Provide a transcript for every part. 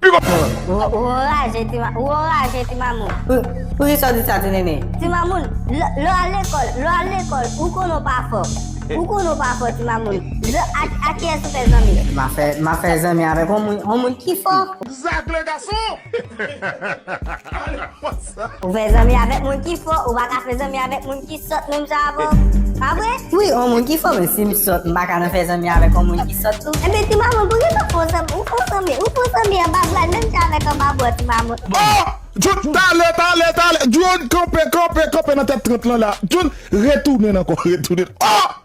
Pi gwo prank. Ou anraje ti ma, ou anraje ti mamoun. Pou kisa w di sa ti nene? Ti mamoun, lè w al lekòl, lè w al lekòl, ou konnen w pa fò. Ou konnen w pa fò ti mamoun. Lè ak kiyès ou fè zanmi? Ma fè, ma fè zanmi avèk yon moun, yon moun ki fò. Zak le gason! Ou fè zanmi avèk moun ki fò, ou paka fè zanmi avèk moun ki sòt menm jan avè w, pa vre? Wi, on moun ki fò men si m sòt m paka nan fè zanmi avèk on moun ki sòt tou. Enben ti mamoun pou kisa ou fè w zanmi, ou fè w zanmi, ou fè w zanmi anba bra l menm jan avèk anba bra w ti mamoun. Oh! Djoun, tale, tale, tale, Djoun, kanpe, kanpe, kanpe nan tèt 30 lan la, Djoun, retounen ankò, retounen, oh!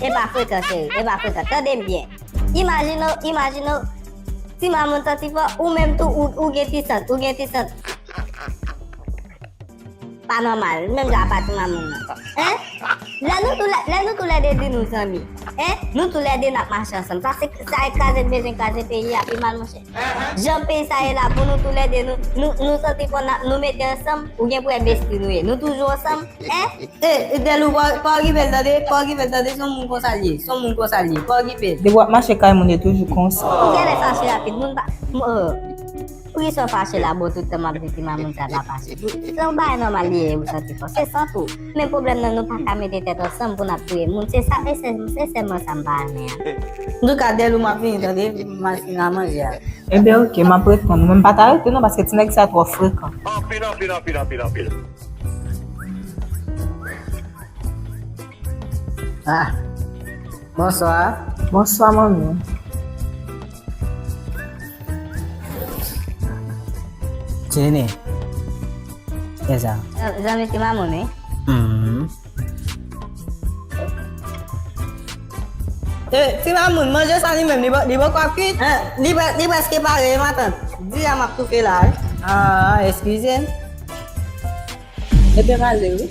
Epa frekan cheri, epa frekan, tandem byen. Imajine w, imajine w, ti mamoun santi fò, ou menm tou ou gen ti sant, ou gen ti sant. Pa nòmal, menm jan apa ti mamoun nan. Hein? Lè nou tou lè, lè nou tou lè 2 di nou zanmi. Hein? Nou tou lè 2 nap mache ansanm. Sa se, sa e kraze bejwen, kraze peyi a pi mal monchè. Jan peyi sa ye la pou nou tou lè 2 nou nou santi fò nap nou mete ansanm ou gen pou wè besti nou ye nou toujou ansanm eh. Eh Delou pa okipe l tande pa okipe l tande son moun konsal ye son moun konsal ye pa okipe l. Depi wap mache kay moun yo toujou konsa. Ou genlè fache rapid moun pa oh poukisa w fache la boo tout tan map viktim a moun sa pa fache se yon bagay nòmal li ye ou santi fò se sant ou. Men pwoblèm nan nou paka mete tèt ansanm pou nap touye moun se sa se sèlman sa mpa renmen an. Antouka Delou map vini tande m al fini manje a. Ebyen ok map reponn ou men mpa ta rete non paske ti nèg sa twò frekan. Anpil anpil anpil anpil anpil. Ah. Bonswa. Bonswa manmi. Ti nene. Kè sa. Zanmi ti mamoun wi. Hum. E, eh, ti mamoun, manje sa li menm, li bon, li bon kwa kuit? E, eh, li, li preske pare, ma tante. Di a map toufe la. Ah, excusez. E te male, oui.